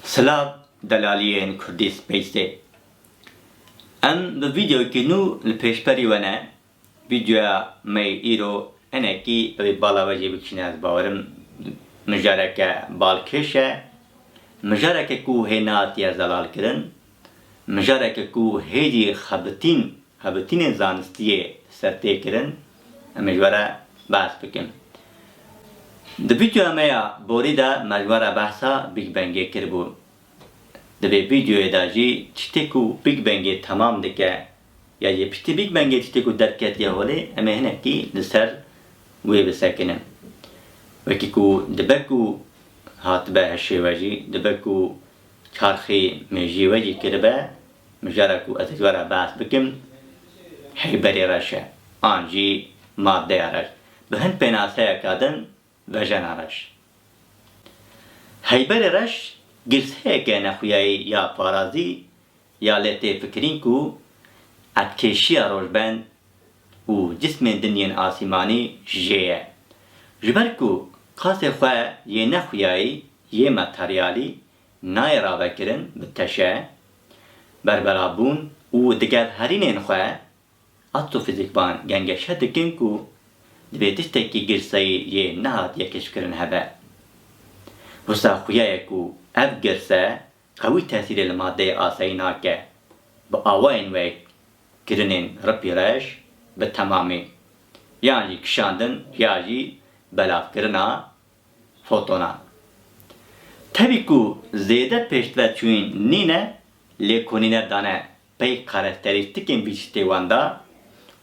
Silav delaliyên Kurdî Space'ê. Em bi vîdeoyekî nû li pêşberî we ne. Vîdeoya me yê îro hinekî divê bala we jî bikişîne ez bawerim mijareke balkêş e. Mijareke ku hê neatiye zelalkirin. Mijareke ku hêjî xebitîn xebitînên zanistî yê ser tê kirin, em ê ji we re behs bikin. Di vîdeoya me ya borî de me ji we re behsa Big Bangê kiribû. Di vê vîdeoyê de jî tiştê ku Big Bangê temam dike ya jî piştî Big Bangê tiştê ku derketiye holê em ê hinekî li ser wê bisekinin. Wekî ku dibe ku hatibe hişê we jî dibe ku Çarxî min jî wecî kiribe, mijara ku ez ji we re behs bikim heyberê reş e, an jî maddeya reş. Bi hin pênaseyeka din vejena reş. Heyberê reş girseyeke nexwiyayî ya parazî ya lê tê fikirîn ku etkêşiya rojbend û cismên din yên asîmanî jê ye. Ji ber ku qasê xwe yê nexwiyayî Yê materyalî nayê ravekirin bi teşe, berberabûn û diger herînên xwe, astrofîzîkvan gengeşe dikin ku divê tiştekî girseyî yê nehatiye keşkirin hebe. Wisa xuya ye ku ev girse qewî tesîrê li madeyê asayî nake, bi awayên wek kirinên ripî reş bi temamî, yan jî kişandin ya jî belavkirina Fotonan. Tevî ku zêde pêşdive çûyîn nîne lê konîne dane pey karakterîstîkên bîçîtê wan de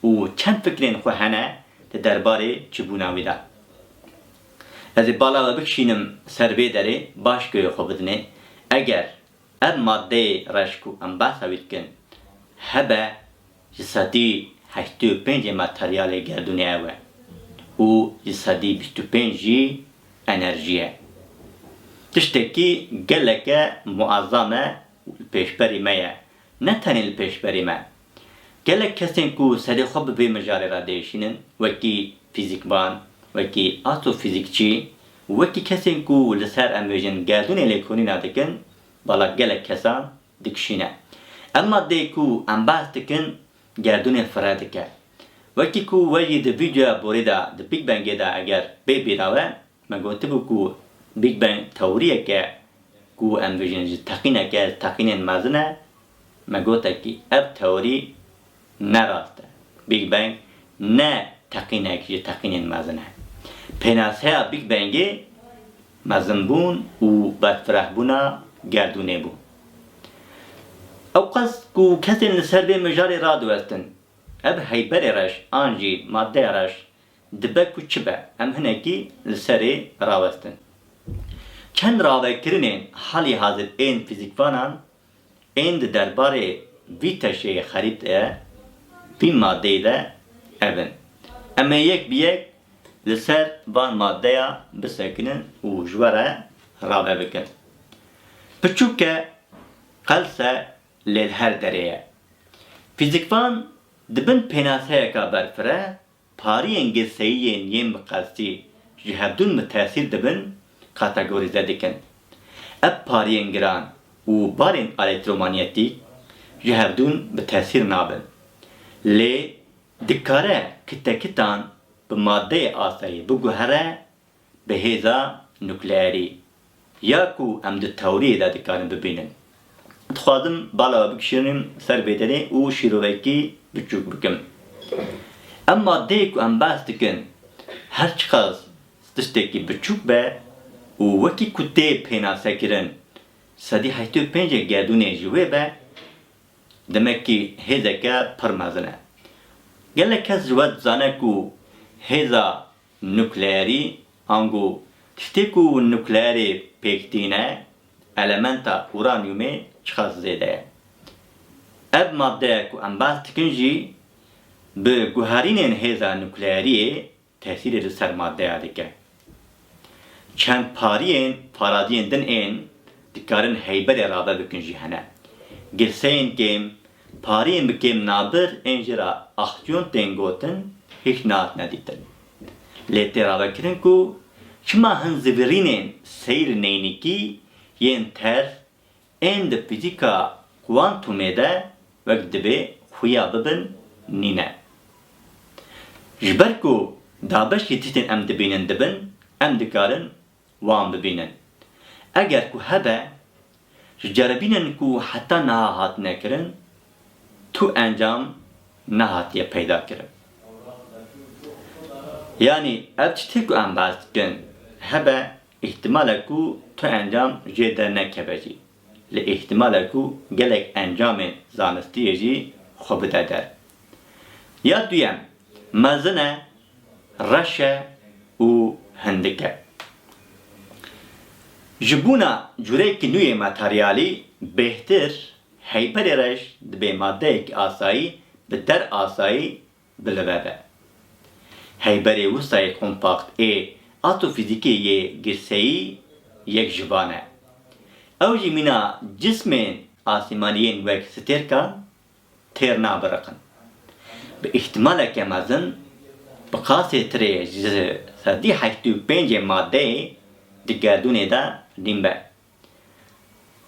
û çend fikrên xwe hene di derbarê çibûna wî de. Ez ê bala we bikişînim ser vê derê baş guyê xwe bidinê, eger ev maddeyê reş ku em behsa wî dikin hebe Ji sedî heştê û pêncê materyalê gerdûnê ew e û ji sedî bîst û pênc jî enerjî ye. Tiştekî geleke muezzam e li pêşberî me ye, ne tenê li pêşberî me. Gelek kesên ku serê xwe bi vê mijarê re diêşînin wekî fîzîkvan, wekî astrofîzîkçî û wekî kesên ku li ser em vêjin gerdûnê lêkolîna dikin, bala gelek kesan dikişîne. Ev maddeyê ku em behs dikin gerdûnê fireh dike. Wekî ku we jî di vîdeoya borî de di Big Bangê de eger bê bîra we, me gotibû ku Big Bang tewrîyek e ku em vijînin ji teqînek e, ji teqînên mezin e. Me gotekî ev tewrî Ne rast e. Big Bang ne teqînek ji teqînên mezin e. Pênaseya Big Bangê mezinbûn û berfirehbûna gerdûnê bû. Ew qas ku kesên li ser vê mijarê radiwestin, ev heyberê reş an jî madeya reş dibe ku çi be, em hinekî li serê rawestin. Çend ravekirinên halî hazir ên fîzîkvanan Ên di derbarê vî teşeyê xerît e, vî madeyî de ev in. Em ê yek bi yek li ser van madeya bisekinin û ji we re rave bikin. Piçûke qelse lê li her derê ye. Fîzîkvan di bin pênaseyeka berfire Pariyên girseyiyên yên bi qestî ji hevdûn mitesîr dibin kategorîze dikin. Ev pariyên giran û barên elektromanyetîk ji hevdûn bi tesîr nabin. Lê dikare kitekitan bi madeyê asayî biguhere Bi hêza nukleerî ya ku em di tewriyê de dikarin bibînin, dixwazim bala we bikişînim ser vê derê û şîrovekî biçûk bikim. Em maddeyê ku em behs dikin her çiqas tiştekî biçûk be û wekî ku tê pênasekirin sedî heştê û pênc ê gerdûnê ji wê be, demekî hêzeke pir mezin e. Gelek kes ji we dizane ku hêza Nukleerî, ango tiştê ku nukleerê pêk tîne, elementa uranyumê çiqas zêde ye. Ev maddeya ku em behs dikin jî bi guherînên hêza nukleeriyê tesîrê li ser maddeya dike. Çend pariyên paradiyên din ên dikarin heyberê rabe bikin jî hene. Girseyên kêm Pariyên bi kêm nabir ên jê re axtyon tên gotin hîç nehatine dîtin. Lê tê ravekirin ku çima hin zivîrînên seyr neynîkî yên terf ên di fîzîka kuantumê de wek dibê xuya bibin nîne. Ji ber ku dabeşî tiştên em dibînin dibin, em dikarin wan bibînin. Eger ku hebe, ji ceribînên ku heta niha hatine kirin, tu encam nehatiye peydakirin. Yanî ev tiştê ku em behs dikin hebe, îhtimal e ku tu encam jê dernekeve jî, lê îhtimal e ku gelek encamên zanistiyê jî xwe bide der. Ya duyem, mezin e reş e û hindik e. Ji bûna cureyekî nû yê materyalî bêhtir, heyberê reş dibê madeyekî asayî bi der asayî bilive be. Heyberê wisa yê kompakt ê atofîzîkê yê girseyî yek ji van e. Ew jî mîna cismên asîmanî yên wek stêrkan, têr nabiriqin. Bi îhtîmaleke mezin bi qasê tirê ji sezdî heşt û pêncê madeyê di gerdûnê de dîn be.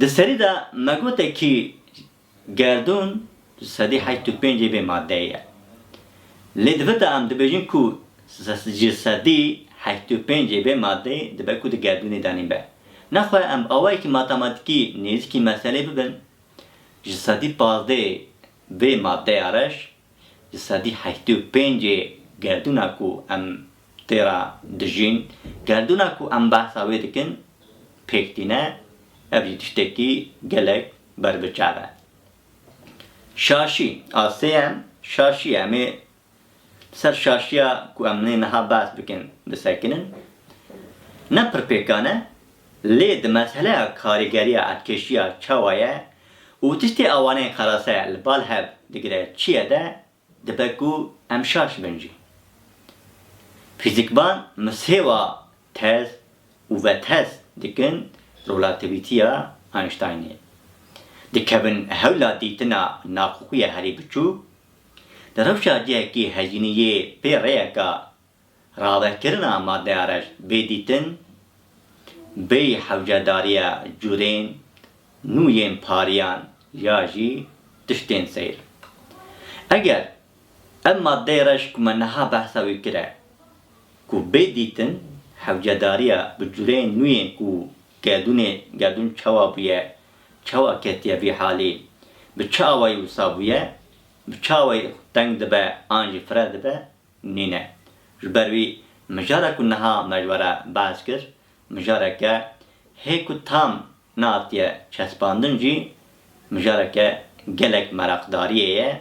Di serî de me gote kî gerdûn ji sedî heşt û pêncê bê madeyê ye. Lê divita em dibêjin ku ji sedî heşt û pêncê bê madeyê dibe ku di gerdûnê de nîn be. Nexwe em awayekî matematîkî nêzîkî meselê bibin. Ji sedî pazdeh vê madeya reş ji sedî heştê û pêncê gerdûna ku em tê re dijîn, gerdûna ku em behsa wê dikin pêk tîne, ev jî tiştekî gelek berbiçav e. Şaşî, a sêyem, şaşî ye. Em ê Li ser şaşiya ku em nê niha behs bikin bisekinin, ne pir pêkan e, lê di meseleya karîgeriya erdkeşiya çawa ye û tiştê awanên xerase li bal hev digire çi ye de dibe ku em şaş bin jî. Fîzîkban misêwa tez û vetez dikin rolativîtiya Einsteinê. Dikevin hewla dîtina naxuxuya herî biçûk, Di rewşa cihekî hejîniyê pê rêyeka ravekirina madeya reş bê dîtin, bê hewcedariya curên nû yên pariyan ya jî tiştên seyr. Eger ev madeyê reş ku me niha behsa wî kire ku bê dîtin, hewcedariya bi curên nû yên ku gerdûnê gerdûn çawa bûye Çawa ketiye vî halî? Bi çi awayî wisa bûye? Bi çi awayî teng dibe an jî fireh dibe? Nîne. Ji ber wî mijara ku niha me ji we re behs kir, mijareke hê ku tam nehatiye çespandin jî mijareke gelek meraqdariyê ye,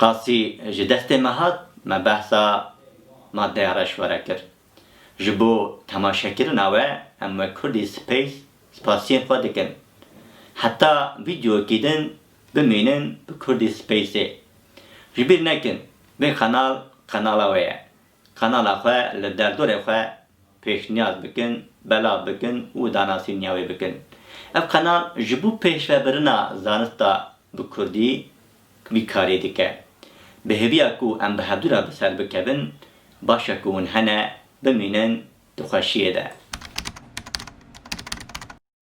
Qasî ji destê me hat, me behsa madeya reşwere kir. Ji bo temaşekirina we em wek Kurdî Space spasiyên xwe dikin. Heta vîdyokî din bimînin bi Kurdî Space-ê. Ji bîr nekin vê qenal qenala we ye. Kanala xwe li derdorê xwe pêşniyaz bikin, belav bikin û danasîniya wê bikin. Ev kanal ji bo pêşvebirina zanista bi kurdî vî karê dike. Bi hêviya ku em bi hevdû re bi ser bikevin, baş e ku hûn hene bimînin di xweşiyê de.